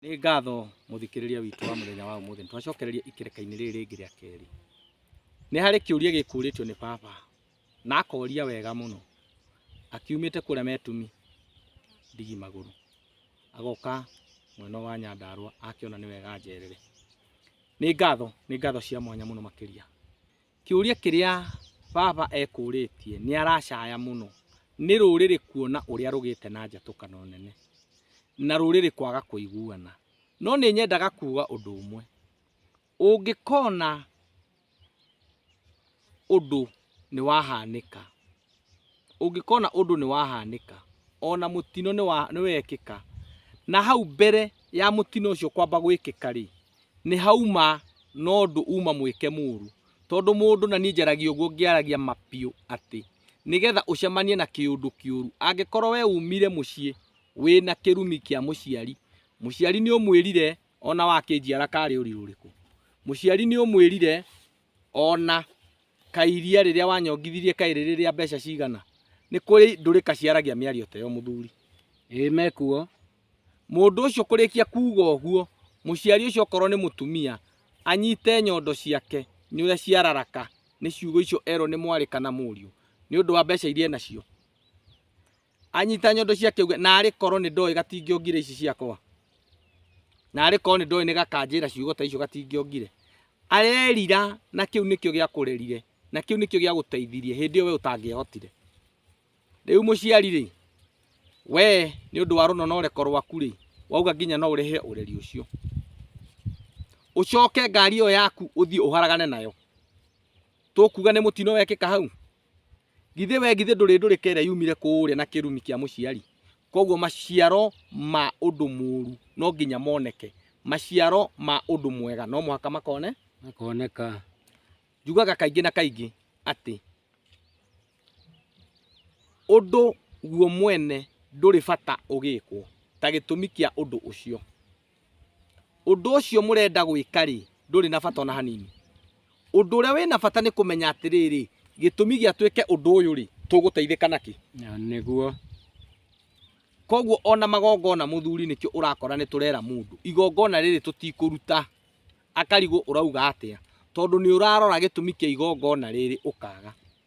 Nĩ ngatho mũthikĩrĩria witũ wa mũthenya wa ũmũthĩ, nĩtwacokereria ikereka-inĩ rĩrĩ rĩngĩ rĩa kerĩ. Nĩ harĩ kĩũria gĩkũrĩtio nĩ baba, na akoria wega mũno, akiumĩte kũrĩa Metumi ndigi magũrũ, agoka mwena ũyũ wa Nyandarũa, akĩona nĩ wega anjerere. Nĩ ngatho, nĩ ngatho cia mwanya mũno makĩria, Kĩũria kĩrĩa baba ekũrĩtie nĩ aracaya mũno nĩ rũrĩrĩ kuona ũrĩa rũgĩte na njatũkano nene na rũrĩrĩ kwaga kũiguana. No nĩ nyendaga kuga ũndũ ũmwe, ũngĩkona ũndũ nĩ wahanĩka ũngĩkona ũndũ nĩ wahanĩka, ona mũtino nĩ wekĩka, na hau mbere ya mũtino ũcio kwamba gwĩkĩka rĩ, nĩ hauma na ũndũ uma mwĩke mũru. Tondũ mũndũ na niĩ njaragia ũguo ngĩaragia ma biũ atĩ, nĩgetha ũcemanie na kĩũndũ kĩũru, angĩkorwo we umire mũciĩ wĩna kĩrumi kĩa mũciari, mũciari nĩ ũmwĩrire ona wakĩnjiara karĩ ũritũ ũrĩkũ? Mũciari nĩ ũmwĩrire Ona kaĩ iria rĩrĩa wanyongithirie kaĩ rĩrĩ rĩa mbeca cigana? Nĩ kũrĩ ndũrĩka ciaragia mĩario ta ĩyo mũthuri. Ĩĩ mekuo. Mũndũ ũcio kũrĩkia kuuga ũguo, mũciari ũcio okorwo nĩ mũtumia, anyite nyondo ciake nĩ ũrĩa ciararaka nĩ ciugo icio erwo nĩ mwarĩ kana mũriũ, nĩ ũndũ wa mbeca iria enacio. anyita nyondo cia kĩũgĩ na arĩ korwo nĩ ndoĩ gatingĩongire ici ciakwa na arĩ korwo nĩ ndoĩ nĩ gakanjĩra ciugo ta icio gatingĩongire arerira na kĩu nĩkĩo gĩa kũrerire na kĩu nĩkĩo gĩa gũteithirie hĩndĩ ĩyo we ũtangĩahotire rĩu mũciari rĩ we nĩ ũndũ wa rũno na ũreko rwaku rĩ wauga nginya no ũrehe ũreri ũcio ũcoke ngari ĩyo yaku ũthiĩ ũharagane nayo tũkuga nĩ mũtino wekĩka hau githĩ we githĩ ndũrĩ ndũrĩka ĩrĩa yumire kũũrĩa na kĩrumi kĩa mũciari koguo maciaro ma ũndũ mũũru no nginya moneke maciaro ma ũndũ mwega no mũhaka makone makoneka njugaga kaingĩ na kaingĩ atĩ ũndũ guo mwene ndũrĩ bata ũgĩkwo ta gĩtũmi kĩa ũndũ ũcio Ũndũ ũcio mũrenda gwĩka-rĩ, ndũrĩ na bata o na hanini. Ũndũ ũrĩa wĩ na bata nĩ kũmenya atĩrĩrĩ, gĩtũmi gĩa twĩke ũndũ ũyũ-rĩ, tũgũteithĩka nakĩ? Na nĩguo. Kwoguo o na magongona mũthuri nĩkĩo ũrakora nĩ tũrera mũndũ, igongona rĩrĩ tũtikũruta. Akarigwo ũrauga atĩa, tondũ nĩ ũrarora gĩtũmi kĩa igongona rĩrĩ ũkaga.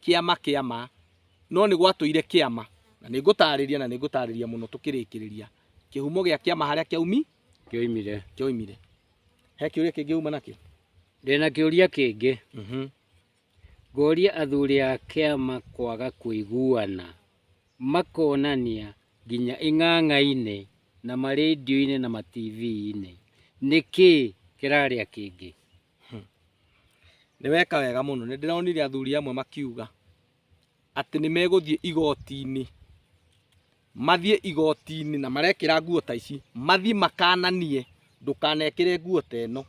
kĩama kĩa ma, no nĩ gwatũire kĩama, na nĩ ngũtaarĩria na nĩ ngũtaarĩria mũno tũkĩrĩkĩrĩria kĩhumo gĩa kĩama harĩa kĩaumi kĩoimire kĩoimire. He kĩũria kĩngĩ uma nakĩo? ndĩ na kĩũria kĩngĩ Mhm. ngoria athuri a kĩama kwaga kũiguana makonania nginya ing'ang'a-inĩ na marendio-inĩ na mativi-inĩ nĩkĩ kĩrarĩa kĩngĩ Hmm. Nĩ weka wega mũno. Nĩ ndĩronire athuri amwe makiuga atĩ nĩ megũthiĩ igoti-inĩ mathiĩ igoti-inĩ na marekĩra nguo ta ici mathiĩ makananie ndũkanekĩre nguo ta ĩno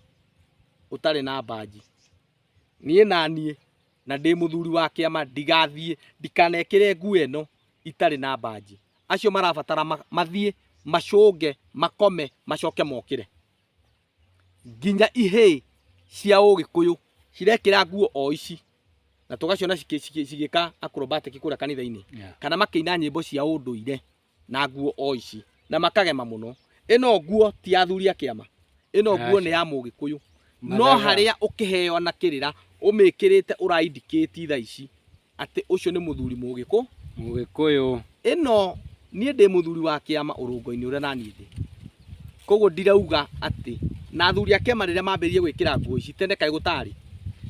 ũtarĩ na mbanji niĩ naniĩ na ndĩ mũthuri wa kĩama ndigathiĩ ndikanekĩre nguo ĩno itarĩ na mbanji acio marabatara mathiĩ macũnge makome macoke mokĩre nginya ihĩĩ cia ũgĩkũyũ cirekĩra nguo o ici na tũgaciona cigĩ- cigĩ- cigĩka acrobatic kũrĩa kanitha-inĩ Yeah. kana makĩina nyĩmbo cia ũndũire na nguo o ici na makagema mũno ĩno nguo ti ya athuri a kĩama ĩno nguo Aca. nĩ ya mũgĩkũyũ no Mathaga. harĩa ũkĩheo na kĩrĩra ũmĩkĩrĩte ũraindikĩti tha ici atĩ ũcio nĩ mũthuri mũgĩkũ. Mũgĩkũyũ. Ĩno niĩ ndĩ mũthuri wa kĩama ũrũngo-inĩ ũrĩa naniĩ ndĩ. Koguo ndirauga atĩ na athuri a kĩama rĩrĩa mambĩrĩirie gwĩkĩra nguo ici tene kaĩ gũtarĩ.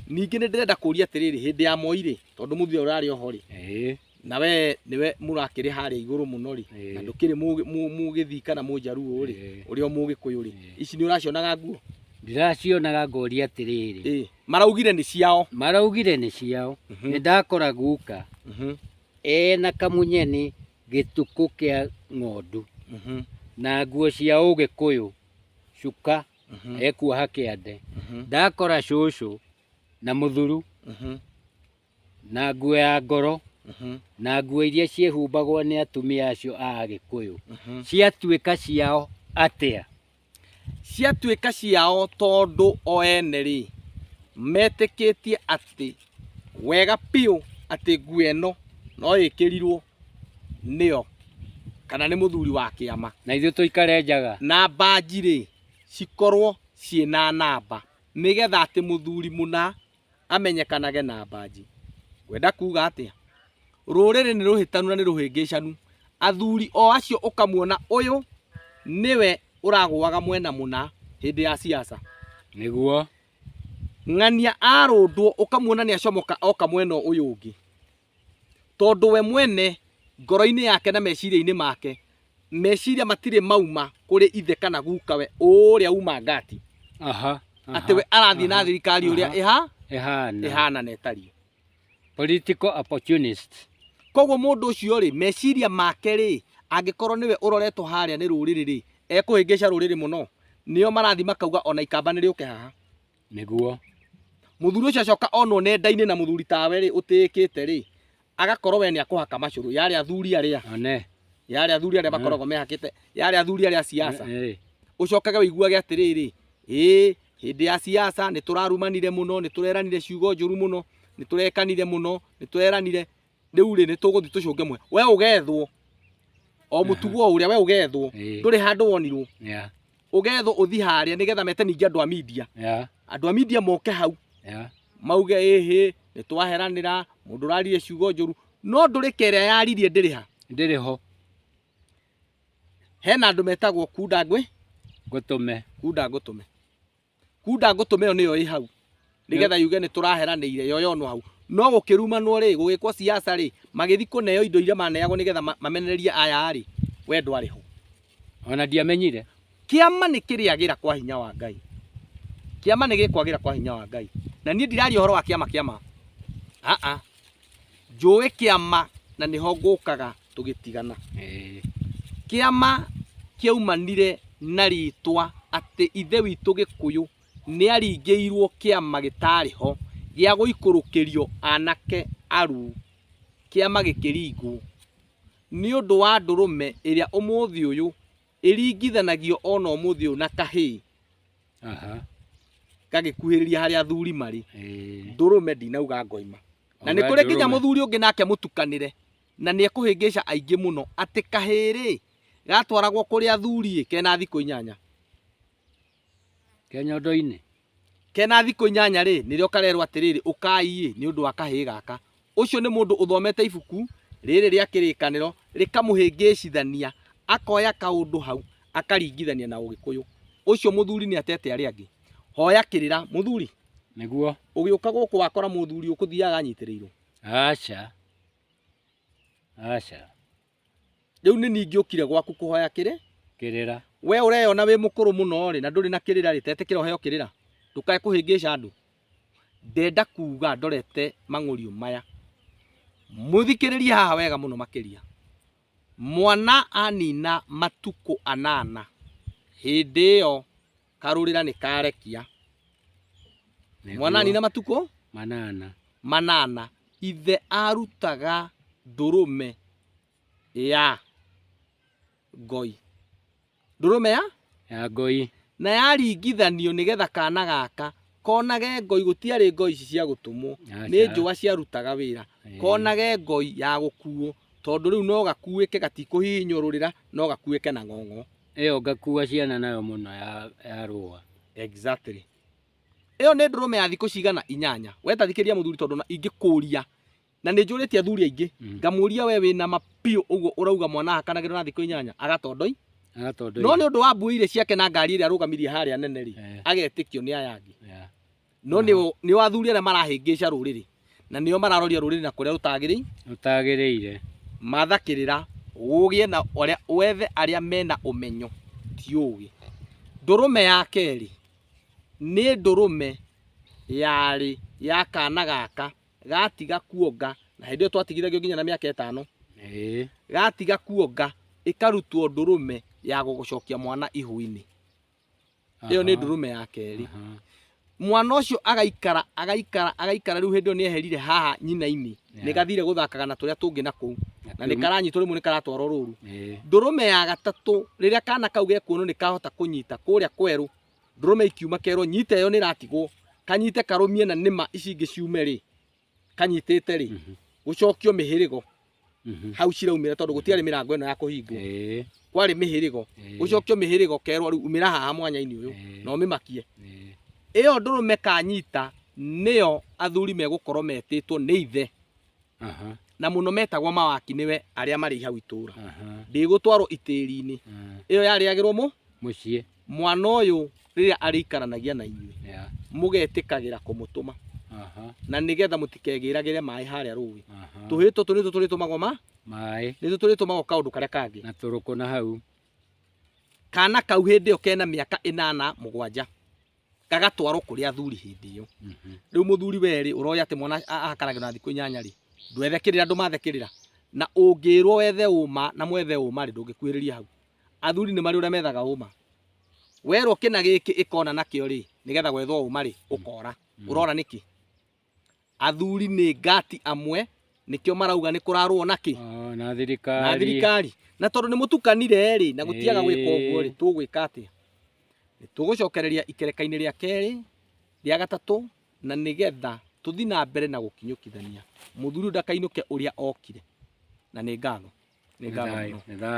Ningĩ nĩ ndĩrenda kũria atĩrĩrĩ hĩndĩ ya moi rĩ, tondũ mũthuri ũrĩa ũrarĩ oho rĩ, Ĩĩ. na we nĩwe mũrakĩrĩ harĩa igũrũ mũno rĩ, Ĩĩ. na ndũkĩrĩ mũgĩ- mũ- mũgĩthii kana mũnjaruo rĩ, Ĩĩ. ũrĩa mũgĩkũyũ rĩ, Ĩĩ. ici nĩ ũracionaga nguo? Ndĩracionaga ngoria atĩrĩrĩ. Ĩĩ. Maraugire nĩ ciao. Maraugire nĩ ciao. Mhm. Nĩ ndakora guka mhm. ena kamunyeni gĩtukũ kĩa ng'ondu mhm. na nguo cia ũgĩkũyũ cuka ekuoha kĩande. Ndakora cũcũ na mũthuru na nguo ya ngoro Mhm, na nguo iria ciĩhumbagwo nĩ atumia acio a Agĩkũyũ mhm. ciatuĩka ciao atĩa? ciatuĩka ciao tondũ o ene rĩ metĩkĩtie atĩ wega biũ atĩ nguo ĩno no ĩkĩrirwo nĩyo kana nĩ mũthuri wa kĩama Na ithuĩ tũikare njaga na mbanji rĩ cikorwo ciĩ na namba nĩgetha atĩ mũthuri mũna amenyekanage na mbanji. Ngwenda kuga atĩa? Rũrĩrĩ nĩ rũhĩtanu na nĩ rũhĩngĩcanu. Athuri o acio ũkamuona ũyũ nĩwe ũragũaga mwena mũna hĩndĩ ya siasa. Nĩguo. Ng'ania arũndwo ũkamuona nĩ acomoka oka mwena ũyũ ũngĩ. tondũ we mwene ngoro-inĩ yake na meciria-inĩ make meciria matirĩ mauma kũrĩ ithe kana gukawe ũrĩa uma ngati Aha. atĩ we arathiĩ na thirikari ũrĩa ĩha Ehana. ĩhana na ĩtariĩ Political opportunist. koguo mũndũ ũcio rĩ meciria make rĩ angĩkorwo nĩwe ũroretwo harĩa nĩ rũrĩrĩ rĩ ekũhĩngĩca rũrĩrĩ mũno nĩo marathi makauga ona ikamba nĩ rĩũke haha Nĩguo. Mũthuri ũcio acoka onwo nenda-inĩ na mũthuri tawe rĩ ũtĩĩkĩte rĩ, agakorwo we nĩ akũhaka macũrũ yarĩ athuri arĩa One. yarĩ athuri arĩa makoragwo mehakĩte yarĩ athuri arĩa a siasa Eh, ũcokage wĩiguage atĩrĩrĩ ĩĩ hĩndĩ ya siasa nĩ tũrarumanire mũno nĩ tũreranire ciugo njũru mũno nĩ tũrekanire mũno nĩ tũreranire rĩu rĩ nĩtũgũthiĩ tũcũnge mwe we ũgethwo o mũtugo o ũrĩa we ũgethwo Ĩĩ. ndũrĩ handũ wonirwo Yeah. ũgethwo ũthi harĩa nĩgetha mete ningĩ andũ a media Yeah. andũ a media moke hau Yeah. mauge ĩhĩ nĩtwaheranĩra mũndũ ũrarire ciugo njũru no ndũrĩka ĩrĩa yaririe ndĩrĩ ha Ndĩrĩ ho hena andũ metagwo kunda ngwĩ ngũtũme. kunda ngũtũme Kunda ngũtũme ĩyo nĩyo ĩ hau nĩgetha yuge nĩ tũraheranĩire yoyonwo hau no gũkĩrumanwo rĩ gũgĩkwo siasa rĩ magĩthi kũneo indo iria maneagwo nĩgetha ma- mamenererie aya rĩ we ndwarĩ ho ona ndiamenyire kĩama nĩ kĩrĩagĩra kwa hinya wa ngai kĩama nĩ gĩkwagĩra kwa hinya wa ngai na niĩ ndiraria ũhoro wa kĩama kĩama aa njũĩ kĩama na nĩho ngũkaga tũgĩtigana Eh, kĩama kĩaumanire na rĩtwa atĩ ithe witũ gĩkũyũ nĩ aringĩirwo kĩama gĩtarĩ ho gĩa gũikũrũkĩrio anake aru kĩama gĩkĩringwo nĩ ũndũ wa ndũrũme ĩrĩa ũmũthĩ ũyũ ĩringithanagio ona ũmũthĩ ũyũ na kahĩĩ Aha. gagĩkuhĩrĩria harĩa athuri marĩ Ĩĩ. ndũrũme ndinauga ngoima na Oga nĩ kũrĩ nginya ndũrũme. mũthuri ũngĩ nake mũtukanĩre na nĩ ekũhĩngĩca aingĩ mũno atĩ kahĩĩ-rĩ gatwaragwo kũrĩ athuri-ĩ kena thikũ inyanya Ke nyondo-inĩ. Ke na thikũ inyanya-rĩ, nĩrĩo karerwo atĩrĩrĩ, Ũkai-ĩ, nĩ ũndũ wa kahĩĩ gaka. Ũcio nĩ mũndũ ũthomete ibuku rĩrĩ rĩa kĩrĩkanĩro rĩkamũhĩngĩcithania, akoya kaũndũ hau akaringithania na Ũgĩkũyũ. Ũcio mũthuri nĩatete arĩa angĩ. Hoya kĩrĩra, mũthuri. Nĩguo. Ũgĩũka gũkũ wakora mũthuri ũkũthiaga anyitĩrĩirwo? Aca. Aca. Rĩu nĩ niĩ ingĩũkire gwaku kũhoya kĩrĩ? Kĩrĩra. We ũreyona wĩ mũkũrũ mũno rĩ na ndũrĩ na kĩrĩra rĩ, tetĩkĩra ũheo kĩrĩra? Ndũkae kũhĩngĩca andũ. Ndenda kuga ndorete mang'ũriũ maya. Mũthikĩrĩrie haha wega mũno makĩria. Mwana anina matukũ anana, hĩndĩ ĩyo Karũrĩra nĩ karekia. Mwanani na matukũ manana. Manana. Ithe arutaga ndũrũme ya ngoi. Ndũrũme ya? Ya ngoi. Na yaringithanio nĩgetha kana gaka konage ngoi, gũtiarĩ ngoi ici cia gũtũmwo, nĩ njũa ciarutaga wĩra, konage ngoi ya gũkuo tondũ rĩu no gakuĩke gatikũhihinyũrũrĩra, no gakuĩke na ng'ong'o. Ĩyo ngakua ciana nayo mũno ya, ya rũa. Exactly. Ĩyo nĩ ndũrũme ya thikũ cigana inyanya. We ta thikĩria mũthuri tondũ na ingĩkũria na nĩ njũrĩtie athuri aingĩ Mm. ngamũria we wĩna mapiũ ũguo ũrauga mwana akanagĩrwo na thikũ inyanya agatondoi Agatondoi. no nĩ ũndũ wa mbui irĩ ciake na ngari ĩrĩa arũgamirie harĩa nene rĩ Eh, agetĩkio nĩ aya angĩ yeah. no nĩ o- nĩ o athuri arĩa marahĩngĩca rũrĩrĩ na nĩo mararoria rũrĩrĩ na kũrĩa rũtagĩrĩire Ũtagĩrĩire. matha kĩrĩra ũgĩe na ũrĩa wethe arĩa mena ũmenyo ti ũgĩ ndũrũme ya kerĩ nĩ ndũrũme yarĩ ya kana gaka gatiga kuonga na hĩndĩ ĩyo twatigithagio nginya na mĩaka ĩtano Ĩĩ. gatiga kuonga ĩkarutwo ndũrũme ya gũgũcokia mwana ihu-inĩ ĩyo nĩ ndũrũme ya kerĩ mwana ũcio agaikara agaikara agaikara rĩu hĩndĩ ĩyo nĩ eherire haha nyina-inĩ Yeah. nĩ gathire gũthakaga na tũrĩa tũngĩ na kũu na nĩ karanyitwo rĩmwe nĩ karatwarwo rũru ndũrũme ya gatatũ rĩrĩa kana kau gekuonwo nĩ kahota kũnyita kũrĩa kwerũ ndũrũme ikiuma kerwo nyita ĩyo nĩ ĩratigwo kanyite karũmie na nĩma ici ingĩ ciume rĩ kanyitĩte rĩ Mhm. gũcokio mĩhĩrĩgo Mhm. hau ciraumĩra tondũ gũtiarĩ mĩrango ĩno ya kũhingwo Eh, kwarĩ mĩhĩrĩgo eh, gũcokio mĩhĩrĩgo kerwo rĩu umĩra haha mwanya-inĩ ũyũ eh, na ũmĩmakie eh. ĩyo ndũrũme kanyita nĩyo athuri megũkorwo metĩtwo nĩ ithe Aha, na mũno metagwo mawaki nĩwe arĩa marĩ hau itũũra aha, ndĩgũtwarwo itĩri-inĩ ah. ĩyo yarĩagĩrwo mũ Mũciĩ. mwana ũyũ rĩrĩa arĩikaranagia na inyuĩ Yeah. mũgetĩkagĩra kũmũtũma Aha. na nĩgetha mũtikegĩragĩre maĩ harĩa rũĩ Aha. tũhĩĩ tũtũ nĩ tũtũrĩtũmagwo ma Maĩ nĩ tũtũrĩtũmagwo kaũndũ karĩa kangĩ na tũrũkũ na hau. kana kau hĩndĩ ĩyo kena mĩaka ĩnana mũgwanja gagatwarwo kũrĩ athuri hĩndĩ ĩyo Mhm. rĩu mũthuri werĩ ũroya atĩ mwana a- ahakanagĩrwo na thikũ inyanya rĩ ndwethekerĩra andũ mathekerĩra na ũngĩrwo wethe ũma na mwethe ũma rĩ ndũngĩkuhĩrĩria hau athuri nĩ marĩ ũrĩa methaga ũma werwo kĩna gĩkĩ ĩkona nakĩo rĩ nĩgetha gwethwo ũma rĩ ũkora Mm. ũrona nĩkĩ athuri nĩ ngati amwe nĩkĩo marauga nĩ kũrarũo nakĩ Ah, na thirikari na thirikari na tondũ nĩ mũtukanire rĩ na gũtiaga gwĩka ũguo rĩ Ĩĩ. tũgwĩka atĩa Nĩ tũgũcokereria ikereka-inĩ rĩa kerĩ rĩa gatatũ na nĩgetha tũthi na mbere na gũkinyũkithania mũthuri ũyũ ndakainũke ũrĩa okire na nĩ ngatho nĩ Nĩ ngatho thayũ, mũno nĩ thayũ.